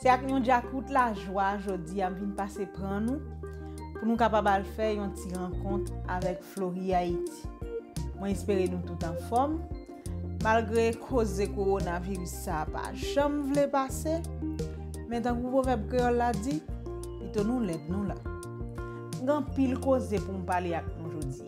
Se ak yon djakout lajwa jodi a m vin pase pran nou pou nou kapab al fè yon ti rankont avèk Floriayiti. Mwen espere nou tout anfòm, malgre koze kowonaviris sa a pa janm vle pase, men tankou pwovèb kreyòl la di, pito nou lèd nou la. M gen anpil koze pou m pale ak nou jodi.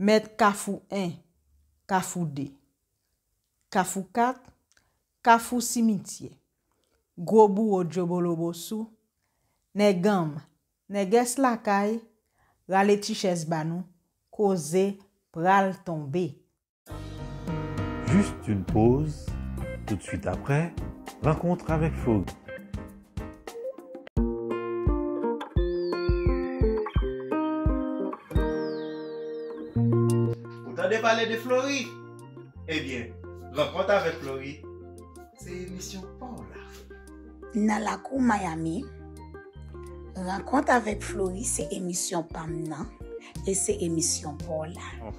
Mèt kafou 1, kafou 2. Kafou 4, kafou simityè. Gwo bouwo dyobolobo sou, nèganm, nègès lakay, rale ti chèz ba nou, koze pral tonbe. Juste une pause, tout de suite après, rencontre avec Fauve. Ou tande pale de Flori? Ebyen, Rankont avèk Flori se emisyon pa w la. Nan lakou Miami, Rankont avèk Flori se emisyon pa m nan e se emisyon pa w la.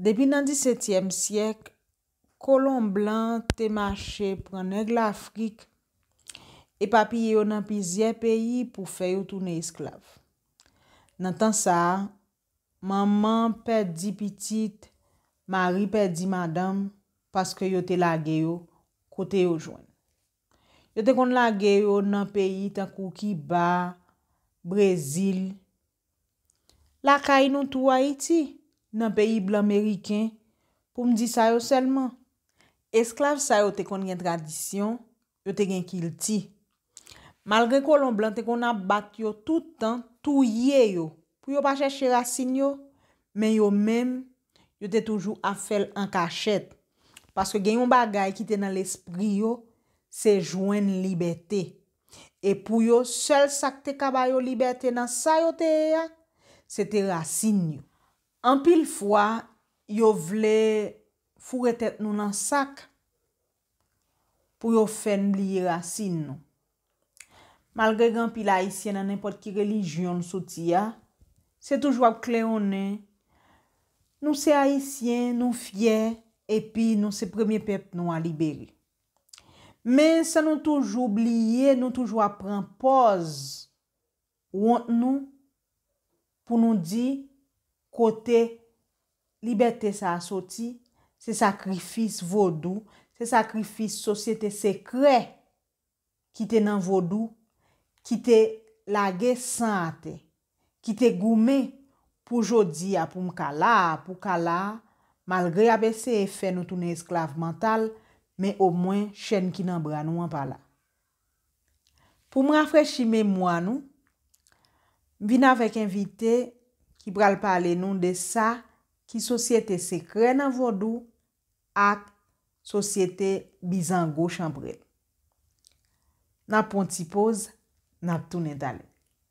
Depi nan disetyèm syèk, kolon blan te mache pran nèg Lafrik, epapiye yo nan plizyè peyi pou fè yo tounen esklav. Nan tan sa a, manman pèdi pitit, mari pèdi madanm paske yo te lage yo kote yo jwenn. Yo te konn lage yo nan peyi tankou Kiba, Brezil, Lakay nou tou Ayiti, nan peyi blan meriken, pou m di sa yo sèlman. Esklav sa yo te konn gen tradisyon, yo te gen kilti. Malgre kolon blan te konn ap bat yo tout tan, touye yo, pou yo pa chèche rasin yo, men yo menm, Yo te toujou ap fè l an kachèt. Paske gen yon bagay ki te nan lespri yo, se jwenn libète. E pou yo, sèl sa k te ka ba yo libète nan sa yo te ye a, se te rasin yo. Anpil fwa, yo vle foure tèt nou nan sak. pou yo fè n bliye rasin nou. Malgre gen anpil Ayisyen nan nenpòt ki relijyon l soti a, se toujou ap klewonnen, Nou se Ayisyen, nou fyè, epi nou se premye pèp nwa libere. Men, san nou toujou bliye, nou toujou ap pran pòz Wont nou pou nou di kote libète sa a soti, se sakrifis vodou, se sakrifis sosyete sekrè ki te nan vodou, ki te lage san atè, ki te goumen pou jodi a pou m ka la a, pou w ka la a, malgre y ap eseye fè nou tounen esklav mantal, men omwen chèn ki nan bra nou an pa la. Pou m rafrechi memwa nou, m vin avèk envite ki pral pale nou de sa ki sosyete sekrè nan vodou ak sosyete bizango chanpre. N ap pran yon ti poz, n ap tounen talè.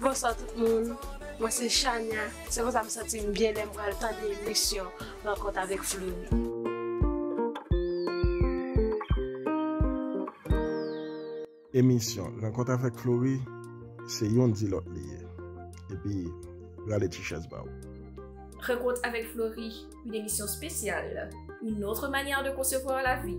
Bonswa tout moun mwen se chania se konsa m santim byen lèm pral tande emisyon rankont avèk fleury. Emisyon rankont avèk fleury se yon di lòt li ye epi rale ti chèz ba ou. Rankont avèk fleury une émission spéciale, une autre manière de concevoir la vie.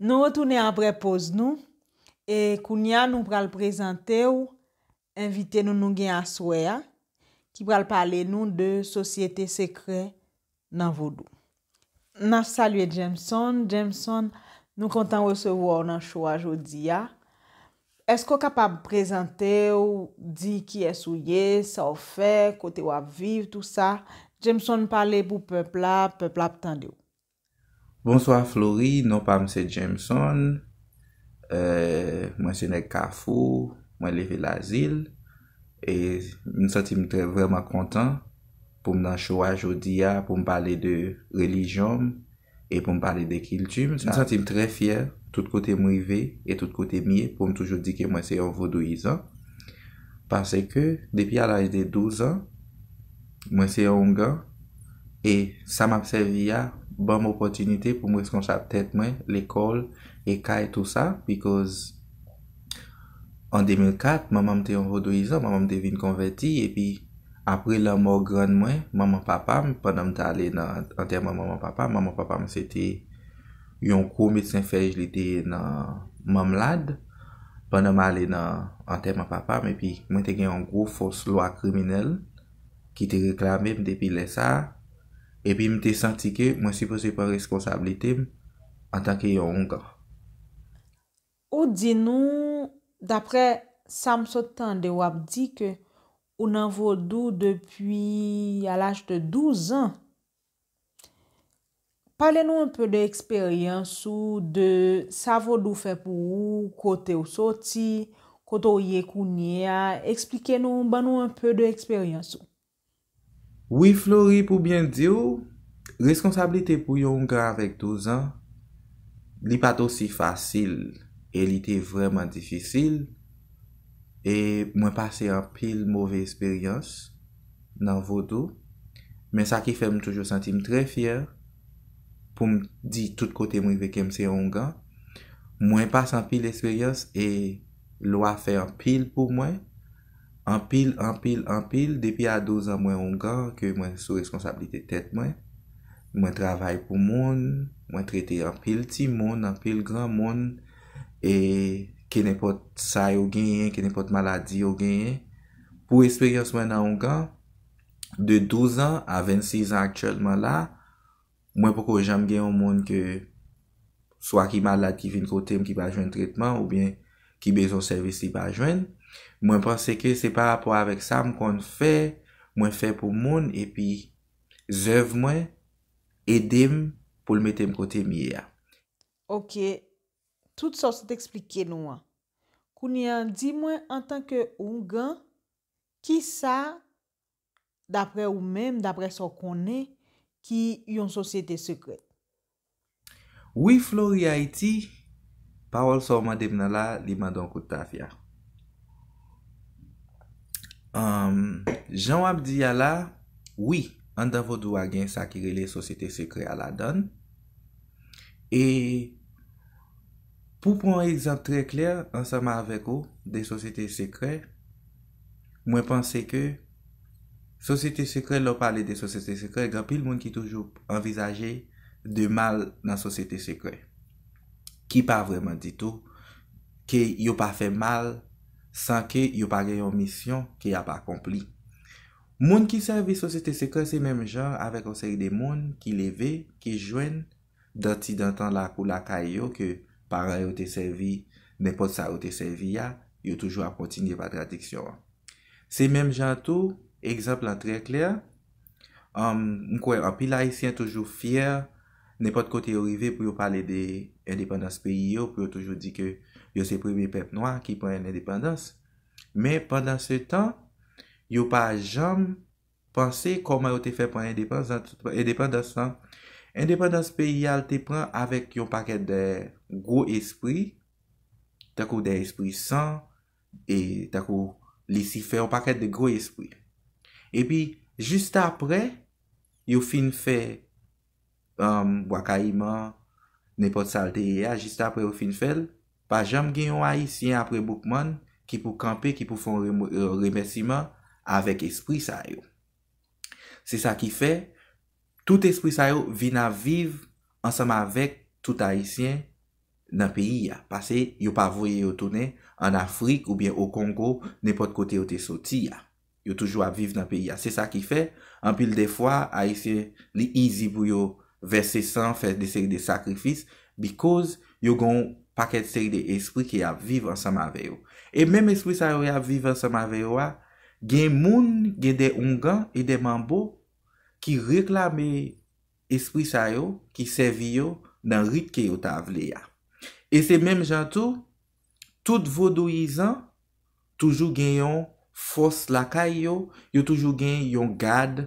Nou retounen apre poz nou e kounya nou pral prezante w envite nou nou gen aswè a ki pral pale nou de sosyete sekrè nan vodou. N ap salye Jameson, Jameson nou kontan resevwa w nan show a jodi a. Eske w kapab prezante w, di kiyès ou ye, sa w fè, kote w ap viv, tou sa. Jameson pale pou pèp la, pèp la ap tande w. Bonswa Flory, non pa m se Jameson, mwen se nèg Kafou, mwen leve Lazil, e m santi m trè vrèman kontan pou m nan show a jodi a pou m pale de relijyon m e pou m pale de kilti m, m santi m trè fyè tout kote m rive e tout kote m ye pou m toujou di ke mwen se yon vodouyizan, pase ke depi a laj de 12 an Mwen se yon oungan, e sa m ap sèvi a ban m opòtinite pou m reskonsab tèt mwen, lekòl e kay tou sa, bikòz an 2004, manman m te yon vodouyizan, manman m te vin konvèti, epi apre lanmò grann mwen, manman papa m, pandan m t ale nan antèman manman papa m, manman papa m se te yon gwo medsen fèy, li te nan Mamlad, pandan m ale nan antèman papa m, epi mwen te gen yon gwo fòs lwa kriminèl. ki te reklame m depi lè sa a, epi m te santi ke mwen sipoze pran responsablite m antanke yon oungan. Ou di nou, daprè sa m sot tande w ap di ke ou nan vodou depi a laj de 12 ans. Pale nou anpe de eksperyans ou, de sa vodou fè pou ou, kote ou soti, kote ou ye kounye a, eksplike nou, ban nou anpe de eksperyans ou. Wi Flori pou byen di w, reskonsablite pou yon ougan avèk 12 an, li pa t osi fasil e li te vrèman difisil e mwen pase anpil move esperyans, nan vodou, men sa ki fè m toujou santi m trè fyè pou m di tout kote m rive ke m se Oungan. Mwen pase anpil esperyans e lwa fè anpil pou mwen, anpil, anpil, anpil. Depi a 12 an mwen Oungan ke mwen sou reskonsablite tèt mwen. Mwen travay pou moun, mwen trete anpil timoun, anpil granmoun e kenenpòt sa yo genyen, kenenpòt maladi yo genyen. Pou esperyans mwen nan Ougan, de 12 an a 26 an aktyèlman la, mwen poko janm gen yon moun ke swa ki malad ki vin kote m ki pa jwenn tretman oubyen ki bezwen yon sèvis li pa jwenn. Mwen panse ke se pa rapò avèk sa m konn fè, mwen fè pou moun epi zèv mwen ede m pou l mete m kote m ye a. Ok, tout sa w sot eksplike nou an, Kounye an di mwen antanke oungan, ki sa, dapre ou menm, dapre sa w konnen, ki yon sosyete sekrèt? Wi Florihaiti, pawòl sa w mande m nan la, li mande yon kout tafya. Anm, jan w ap di a la, wi, anndan Vodou a gen sa ki rele sosyete sekrè a ladan l. E. Pou pran yon egzanp trè klè ansanm avèk ou de sosyete sekrè, mwen panse ke sosyete sekrè lè w pale de sosyete sekrè gen anpil moun ki toujou anvizaje de mal nan sosyete sekrè. Ki pa vrèman di tou ke yo pa fè mal san ke yo pa gen yon misyon ke y ap akonpli. Moun ki sèvi sosyete sekrè se menm jan avèk yon seri de moun ki leve, ki jwenn, Dantidantan lakou lakay yo ke paran yo te sèvi nenpòt sa yo te sèvi a, yo toujou ap kontinye pa tradiksyon an. Se menm jan an tou, egzanp lan trè klè, m kwè anpil Ayisyen toujou fyè nenpòt kote yo rive pou yo pale de endepandans peyi yo, pou yo toujou di ke yo se premye pèp nwa ki pran endepandans. Men pandansetan, yo pa janm Panse kòman yo te fè pran endepandans lan. Endepandans peyi a l te pran avèk yon pakèt de gwo espri, tankou de espri san, e tankou lisifè, yon pakèt de gwo espri. Epi, jistapre yo fin fè Bwa Kayiman, nenpòt sa l te ye a, jis apre yo fin fè l, pa janm gen yon Ayisyen apre Boukman ki pou kanpe, ki pou fè yon remèsiman avèk espri sa yo. Se sa ki fè, tout espri sa yo vin ap viv ansanm avèk tout Ayisyen nan peyi a, pase yo pa voye yo tounen an Afrik oubyen o Kongo, nenpòt kote yo te soti a. Yo toujou ap viv nan peyi a. Se sa ki fè, anpil de fwa, Ayisyen, li izi pou yo vèse san, fè de seri de sakrifis, bikòz yo gen yon pakèt seri de espri ki ap viv ansanm avè yo. E menm espri sa yo y ap viv ansanm avè yo a, gen moun, gen de oungan e de manbo ki reklame espri sa yo, ki sèvi yo nan rit ke yo ta vle a. E se menm jan tou, Tout vodouyizan toujou gen yon fòs lakay yo, yo toujou gen yon gad,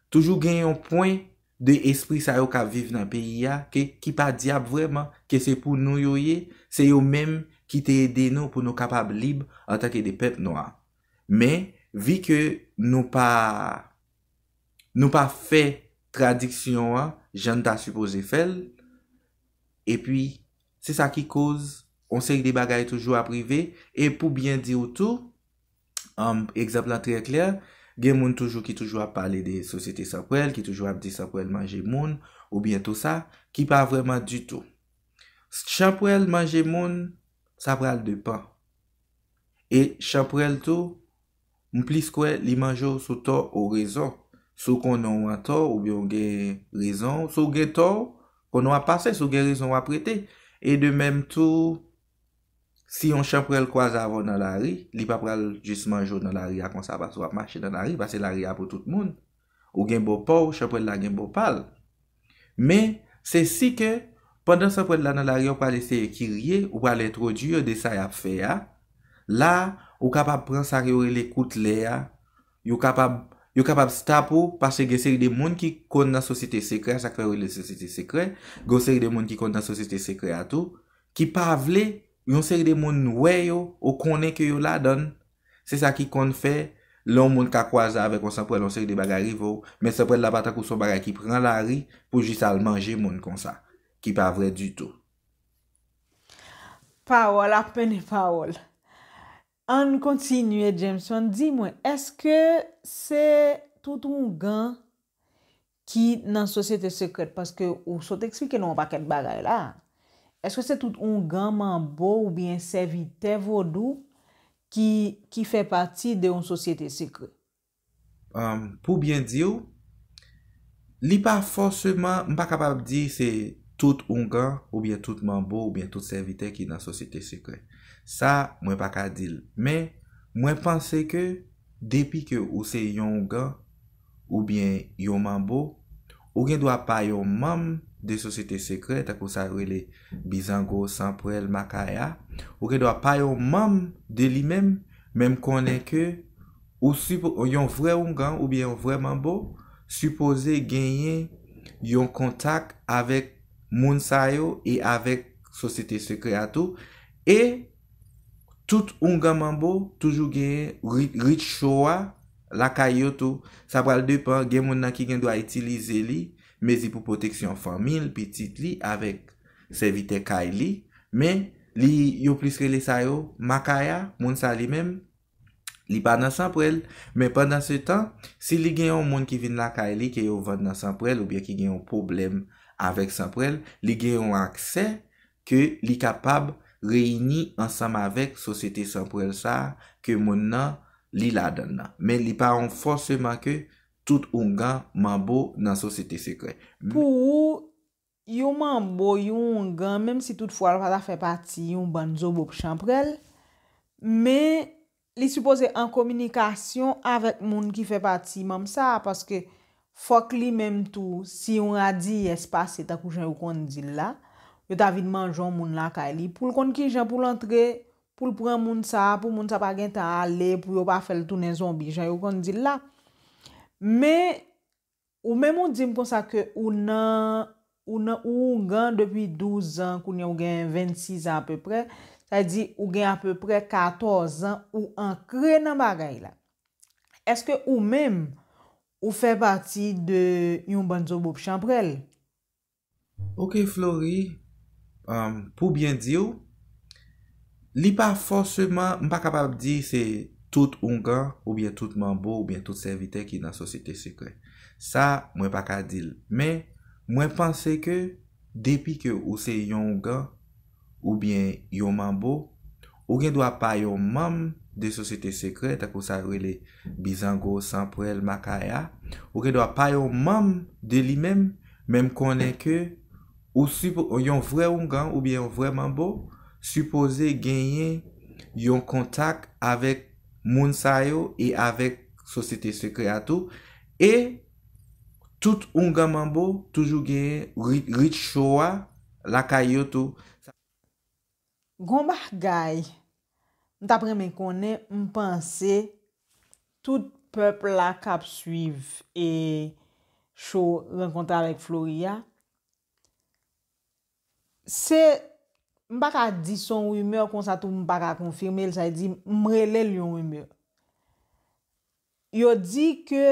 toujou gen yon pwen de espri sa yo k ap viv nan peyi a ke ki pa dyab vrèman, ke se pou nou yo ye, se yo menm ki te ede nou pou nou kapab lib antanke de pèp nwa. Men, vi ke nou pa nou pa fè tradiksyon an jan n ta sipoze fè l, epi Se sa ki koz yon seri de bagay toujou ap rive e pou byen di w tou, egzanp lan trè klè, gen moun toujou ki toujou ap pale de sosyete san pwèl, ki toujou ap di san pwèl manje moun oubyen tou sa, ki pa vrèman ditou. Chanpwèl manje moun, sa pral depan. E chanpwèl tou, M plis kwè li manje w sou tò ou rezon. Si w konnen w antò oubyen w gen rezon, si w gen tò, konnen w ap pase, si w gen rezon w ap rete. E de menm tou, si yon chanprèl kwaze avè w nan lari, li pa pral jis manje w nan lari a konsa paske w ap mache nan lari, paske lari a pou tout moun. Ou gen bò pa w, chanprèl la gen bò pa l. Men, se si ke, pandan sanpwèl la nan lari a ou pral eseye kirye, ou pral entwodui yo de sa y ap fè a, la a, ou kapab pran sa yo rele kout lè a, yo kapab, yo kapab stop ou, paske gen seri de moun ki konn nan sosyete sekrè a, sa k fè yo rele l sosyete sekrè, gen yon seri de moun ki konn nan sosyete sekrè a tou, ki pa vle yon seri de moun wè yo, ou konnen ke yo ladan l, se sa ki konn fè lè yon moun ka kwaze avèk yon sanpwèl yon seri de bagay rive w, men sanpwèl la pa tankou s on bagay ki pran lari pou jis al manje moun konsa, ki pa vrè ditou. Pawòl ap mennen pawòl. Ann kontinye Jameson, di mwen, èske se tout ougan Ki nan sosyete sekrèt paske ou sot eksplike nou yon pakèt bagay la. Eske se tout oungan, manbo oubyen sèvitè vodou ki ki fè pati de yon sosyete sekrè? Pou byen di w, li pa fòseman, m pa kapab di se tout oungan oubyen tout manbo oubyen tout sèvitè ki nan sosyete sekrè. Sa mwen pa ka di l. Men, mwen panse ke depi ke ou se yon oungan, oubyen yon manbo, ou gen dwa pa yon manm de sosyete sekrè, tankou sa yo rele bizango, sanpwèl, makaya, ou gen dwa pa yon manm de li menm, men m konnen ke ou si, yon vrè oungan oubyen yon vrè manbo, sipoze genyen yon kontak avèk moun sa yo e avèk sosyete sekrè a tou, e Tout oungan manbo toujou genyen rit cho a lakay yo tou. Sa pral depan, gen moun nan ki gen dwa itilize li, mezi pou pwoteksyon fanmi l, pitit li avèk sèvitè kay li. Men, li yo plis rele sa yo Makaya, moun sa li menm, li pa nan Sanprèl. Men pandansetan, si li gen yon moun ki vin lakay li ke yo vann nan Sanprèl oubyen ki gen yon pwoblèm avèk Sanprèl, li gen yon aksè Ke li kapab reyini ansanm avèk sosyete san pwèl sa a ke monn nan li ladan l nan. Men li pa on fòseman ke tout oungan, manbo, nan sosyete sekrè. Pou ou, yon manbo, yon oungan, menm si tout fwa l pa ta fè pati yon bann zobop chanprèl, men Li sipoze an kominikasyon avèk moun ki fè pati manm sa a paske fòk li menm tou si yon radiyès pase tankou jan yo konn di l la, yo ta vin manjon moun lakay li pou l konn ki jan pou l antre, pou l pran moun sa a, pou moun sa a pa gen tan ale, pou yo pa fè l tounen zonbi jan yo konn di l la. Men, Ou menm ou dim konsa ke ou nan ou nan ou oungan depi 12 zan kounye ou gen 26 zan apeprè sa vle di ou gen apeprè 14 zan ou ankre nan bagay la eske ou menm ou fè pati de yon bann zobop chanprèl Ok Flory, pou byen di w, li pa fòseman, m pa kapab di se tout oungan oubyen tout manbo oubyen tout sèvitè ki nan sosyete sekrè. Sa, mwen pa ka di l. Men, mwen panse ke depi ke ou se yon oungan, oubyen yon manbo, ou gen dwa pa yon manm de sosyete sekrè, tankou sa yo rele bizango, sanpwèl, makaya, ou gen dwa pa yon manm de li menm, men m konnen ke ou si, yon vrè oungan oubyen yon vrè manbo, sipoze genyen yon kontak avèk moun sa yo e avèk sosyete sekrè a tou, e. Tout oungan manbo toujou gen rit cho a lakay yo tou. Gon bagay m tap renmen konnen m panse tout pèp la kap swiv e cho rankontre avèk Flory a se m pa ka di son rumeur konsa tou m pa ka konfime l sa vle di m rele l yon rumeur. Yo di ke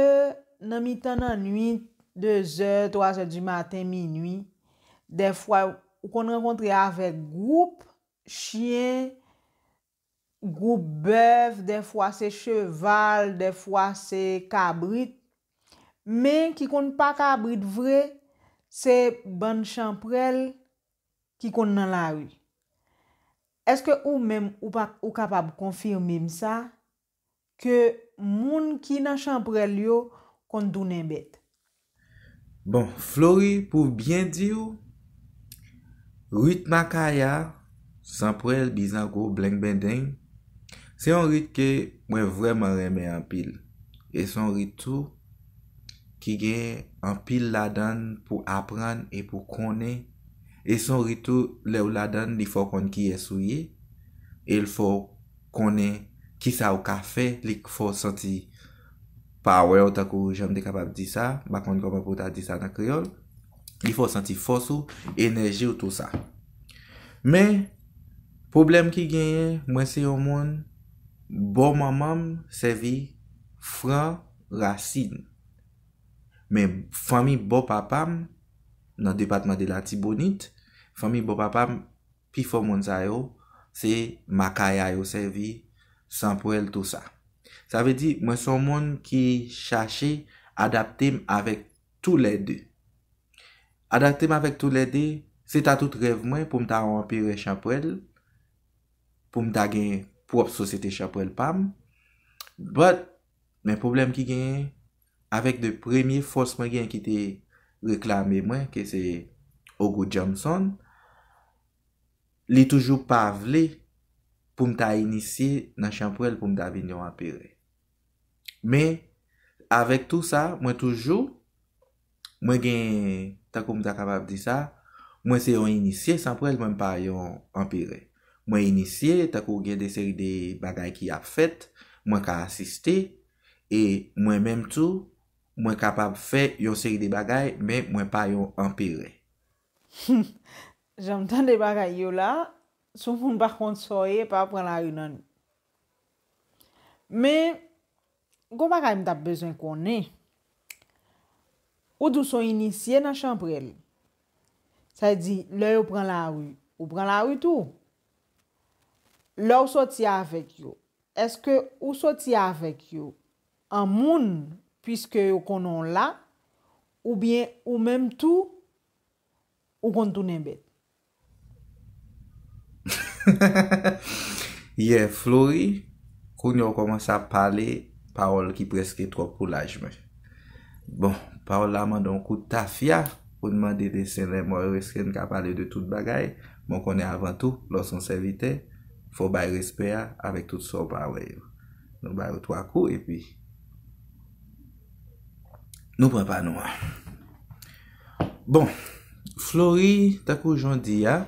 nan mitan nannuit, dezè, twazè di maten, minui, dèfwa ou konn rankontre avèk gwoup chyen, gwoup bèf, dèfwa se cheval, dèfwa se kabrit, men ki konn pa kabrit vre, se bann chanprèl ki konn nan lari. Èske ou menm ou kapab konfime m sa? ke moun ki nan chanprèl yo konn tounen bèt. Bon, Flory pou byen di w, rit Makaya, Zanprèl, Bizango, Blengbendeng, se yon rit ke mwen vrèman renmen anpil. E se yon rit tou ki gen anpil ladan l pou aprann e pou konnen. E se yon rit tou lè ou ladan l li fè w konn kiyès ou ye e l fè w konnen kisa ou ka fè li k fè w santi power w tankou jan m te kapab di sa m pa konn kòman pou w ta di sa nan kreyòl li fè w santi fòs ou enèji w tou sa men pwoblèm ki genyen mwen se yon moun bò manman m sèvi fran rasin men fanmi bò papa m nan depatman de latibonit fanmi bò papa m pi fò moun sa yo se makaya yo sèvi, sanpwèl tou sa. Sa vle di mwen son moun ki chache adapte m avèk tou lè 2. Adapte m avèk tou lè 2, se ta tout rèv mwen pou m ta yon anperè chanpwèl, pou m ta gen pwòp sosyete chanpwèl pa m, but men pwoblèm ki genyen, avèk 2 premye fòs mwen gen ki te reklame mwen ke se Ogo Jamson, li toujou pa vle pou m ta inisye nan chanpwèl pou m ta vin yon anperè. Men, avèk tou sa, mwen toujou, mwen gen, tankou m ta kapab di sa, mwen se yon inisye sanpwèl mwen pa yon anperè. Mwen inisye, tankou gen de seri de bagay ki ap fèt, mwen ka asiste, E mwen menm tou, mwen kapab fè yon seri de bagay, men mwen pa yon anperè. Hum! Jan m tande bagay yo la, si w moun pa konn sa w ye, pa pran lari nan li. Men, gon bagay m t ap bezwen konnen. Ou di w s on inisye nan chanprèl. Sa vle di, lè yo pran lari, ou pran lari tou? Lè w soti avèk yo, Èske ou soti avèk yo an moun piske yo konnen w la oubyen ou menm tou ou konn tounen bèt? Yè Flory, kounye w kòmanse ap pale pawòl ki prèske twòp pou laj mwen. Bon, Paola mande yon kout tafya pou n mande desen Lenmò yo èske n ka pale de tout bagay, men w konnen avan tou lè w s on sèvitè fò w bay respè a avèk tout sa w pa wè yo. Nou ba yo twa kou epi nou pran pa nou an. Bon, Flori tankou jan w di a,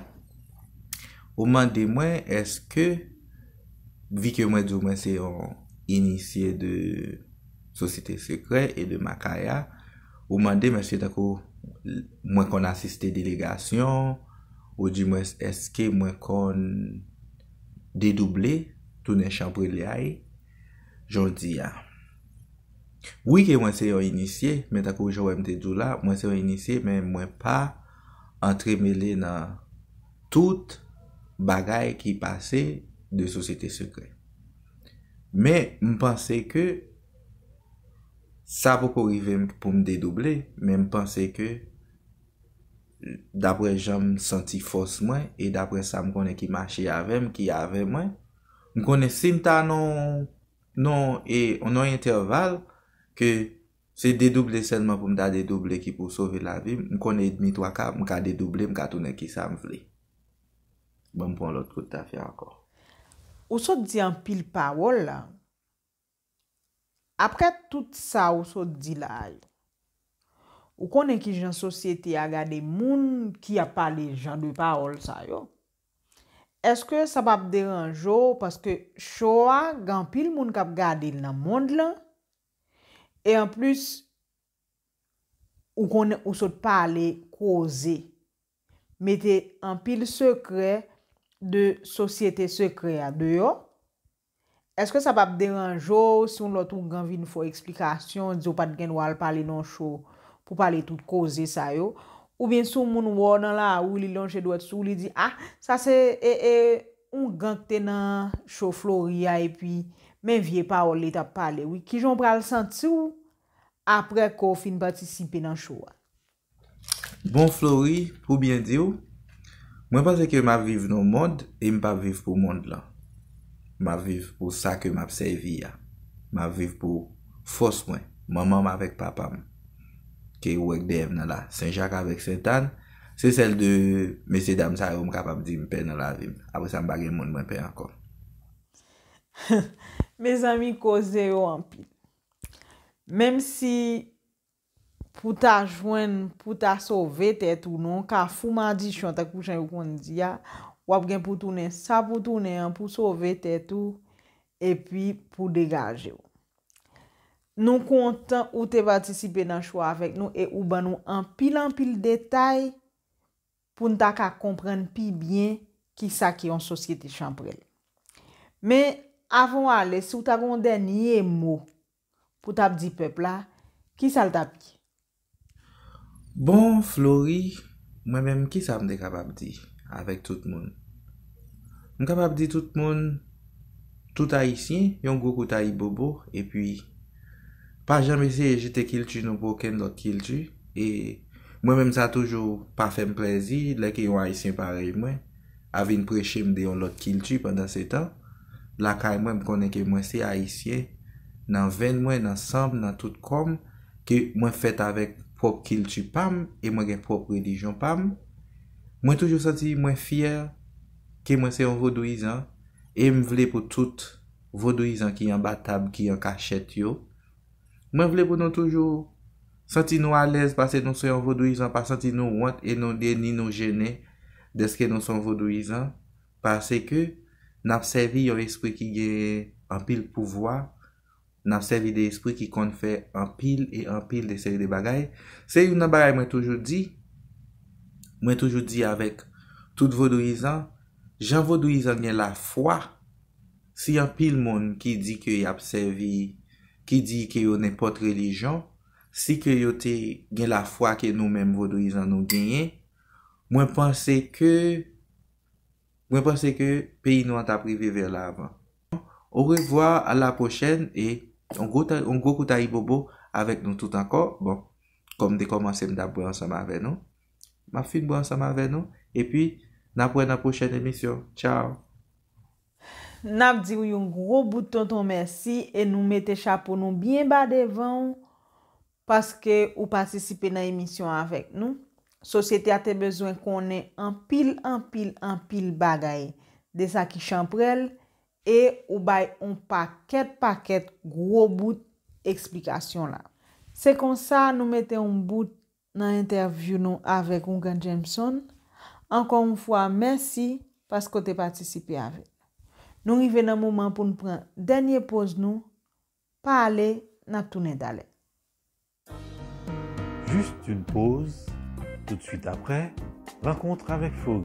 ou mande mwen èske vi ke mwen di w mwen se yon inisye de. Sosite Sekrè e de Makaya, ou mande mesye tankou mwen konn asiste delegasyon, ou di mwens eske mwen konn dedouble, tounen chanprelyay, jan w di a. Wi ke mwen se yon inisye, men tankou jan w wè m te di w la, mwen se yon inisye men mwen pa antremele nan tout bagay ki pase de Sosite Sekrè. Men m panse ke sa poko rive m pou m dedouble men m panse ke dapre jan m santi fòs mwen e dapre sa m konnen ki mache avè m, ki avè mwen, m konnen si m ta nan yon entèval ke se dedouble sèlman pou m ta dedouble ki pou sove lavi m, m konnen edmi twa ka, m ka dedouble, m ka tounen kisa m vle. Banm pran lot kot tafya anko. Ou sot di anpil pawol la. Apre tout sa ou sot di la a yo. Ou konnen kijan sosyete a gade moun ki ap pale jan de pawol sa yo. Eske sa pap deranje w paske cho a gen anpil moun kap gade l nan mond lan e anplis ou konnen ou sot pale koze. mete anpil sekrè de sosyete sekrè a deyò? Eske sa pap deranje w si yon lòt ougan vin fè w eksplikasyon, di w pat gen dwa al pale nan cho pou pale tout koze sa yo? Oubyen si yon moun wè w nan lari li lonje dwèt sou w li di, a, sa se ougan ki te nan cho Flori a epi men vye pawòl li tap pale wi. Kijan w pral santi w aprè ke w fin patisipe nan cho a? Bon Flory, pou byen di w, mwen panse ke m ap viv nan yon mond e m p ap viv pou mond lan. M ap viv pou sa ke m ap sèvi a. M ap viv pou fòs mwen, manman m avèk papa m, ke ou wè k dèyè m nan la, Sen Jak avèk Sent Ann, se sèl 2 mesye dam sa yo m kapab di m pè nan lavi m. Apre sa m pa gen moun mwen pè ankò. Mezanmi koze yo anpil. Menm si Pou ta jwenn, pou ta sove tèt ou nan yon kafou madichon tankou jan yo konn di a, w ap gen pou w tounen sa pou w tounen an pou w sove tèt ou epi pou w degaje w. Nou kontan ou te patisipe nan chou a avèk nou e ou ban nou anpil anpil detay pou n ta ka konprann pi byen ki sa ki yon sosyete chanprèl. Men, avan w ale, si w ta gen yon dènye mo Pou tap di pèp la kisa l tap di. Bon Flory mwen menm kisa m te kapab di avèk tout moun. M kapab di tout moun tout ayisyen yon gwo kout ayibobo epi pa janm eseye jete kilti nou pou okenn lòt kilti e mwen menm sa toujou pa fè m plèzi lè ke yon ayisyen parèy mwen a vin preche m de yon lòt kilti pandansetan lakay mwen m konnen ke mwen se ayisyen nan venn mwen, nan san m, nan tout kò m ke mwen fèt avèk pwòp kilti pa m e mwen gen pwòp relijyon pa m mwen toujou santi mwen fyè ke mwen se yon vodouyizan e m vle pou tout vodouyizan ki anba tab, ki an kachèt yo Mwen vle pou nou toujou Santi nou alèz pase nou se yon vodouyizan pa santi nou wont e nou de ni nou jennen deske nou son vodouyizan pase ke nap sèvi yon espri ki genyen anpil pouvwa nap sèvi de espri ki konn fè anpil e anpil de seri de bagay se youn nan bagay mwen toujou di mwen toujou di avèk tout vodouyizan jan vodouyizan gen lafwa. Si anpil moun ki di ke yap sèvi, ki di ke yo nenpòt relijyon, si ke yo te gen lafwa ke nou menm vodouyizan nou genyen, mwen panse ke, mwen panse ke peyi nou an tap rive vè lavan. Orevwa, a la pwochèn e yon gwo ta, yon gwo kout ayibobo avèk nou tout ankò. Bon, kòm m te kòmanse m tap bwè ansanm avè nou, map fin bwè ansanm avè nou, epi nap wè nan pwochèn emisyon. Tchaw! N ap di w yon gwo bout tonton mèsi e nou mete chapo nou byen ba devan w paske ou patisipe nan emisyon avèk nou. Sosyete a te bezwen konnen anpil, anpil, anpil bagay de sa ki chanprèl e ou bay on pakèt, pakèt gwo bout eksplikasyon la. Se konsa nou mete on bout nan entèvyou nou avèk Ougan Jameson, ankò yon fwa mèsi paske w te patisipe avèk nou. Nou rive nan moman pou n pran dènye poz nou, pa ale, n ap tounen talè. Juste une pause, tout de suite après, Rencontre avec Faury.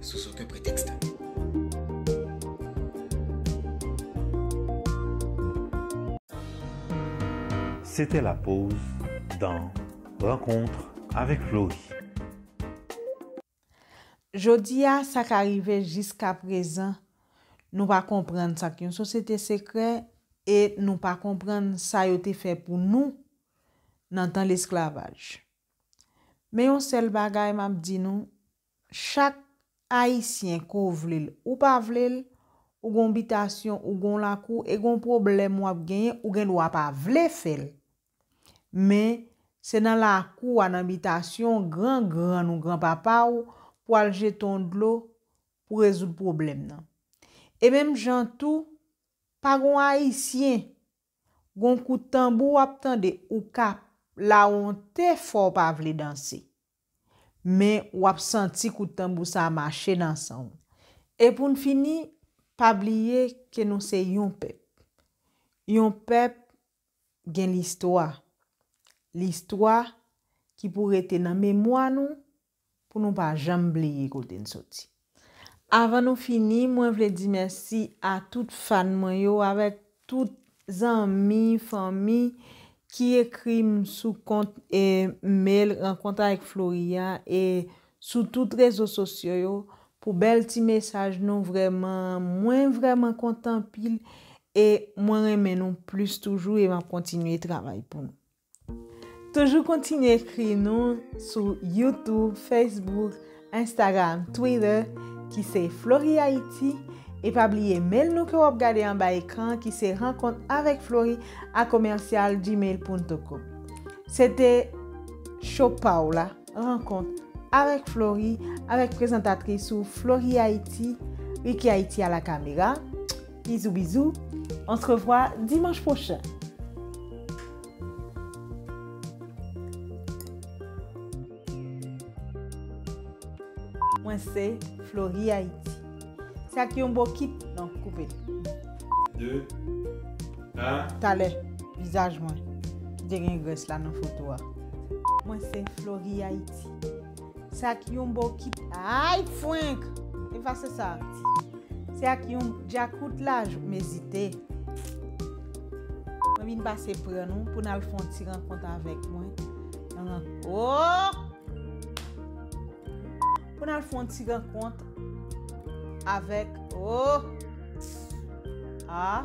Sous oken pretèks. C'était la pause dans Rencontre avec Florie. Jodi a, sa ka rive jiskaprezan nou pa konprann sa k yon sosyete sekrè e nou pa konprann sa yo te fè pou nou nan tan lesklavaj. Men yon sèl bagay m ap di nou, Chak Ayisyen ke w vle l ou pa vle l, ou gen yon bitasyon, ou gen yon lakou e gen yon pwoblèm w ap genyen, ou gen dwa pa vle fè l. Men, se nan lakou w a, nan bitasyon w, gran grann ou, gran papa w, pou al jete yon dlo pou rezoud pwoblèm nan. E menm jan tou, pa gen yon Ayisyen Gon kout tanbou wap tande ou ka la wonte fòw pa vle danse. Men wap santi kout tanbou sa mache nan sanw. E poun fini pa bliye ke nou se yon pèp. Yon pèp gen listwa. Listwa ki pou rete nan memwa nou pou nou pa janm bliye kote n soti. Avan nou fini, mwen vle di mèsi a tout fan mwen yo avèk tout zanmi, fanmi ki ekri m sou kont e mail Rencontre avec Florie a e sou tout rezo sosyo yo pou bèl ti mesaj nou vrèman mwen vrèman kontan anpil e mwen renmen nou plis toujou e map kontinye travay pou nou. Toujou kontinye ekri nou sou YouTube, Facebook, Instagram, Twitter ki se Flori Haiti e pa bliye mail nou ke wap gade anba ekran an ki se rankont avek Flori a commercial gmail punto com. Se te show pa w la rankont avek Flori avek prezantatris ou Flori Haiti Ricky Haiti a la camera. Bizou bizou on se revwa dimanch pwochen. Mwen se Flori Haiti. Se ak yon bokit non koupe l. 2 1. Talè vizaj mwen ki te gen grès la nan foto a. Mwen se Flori Haiti. Se ak yon bokit ayy frenk efase sa. Se ak yon djakout la jou m ezite. Mwen vin pase pran nou pou n al fon ti rankont avèk mwen nan ooh. Pou n al fon ti rankont avèk ooh ah.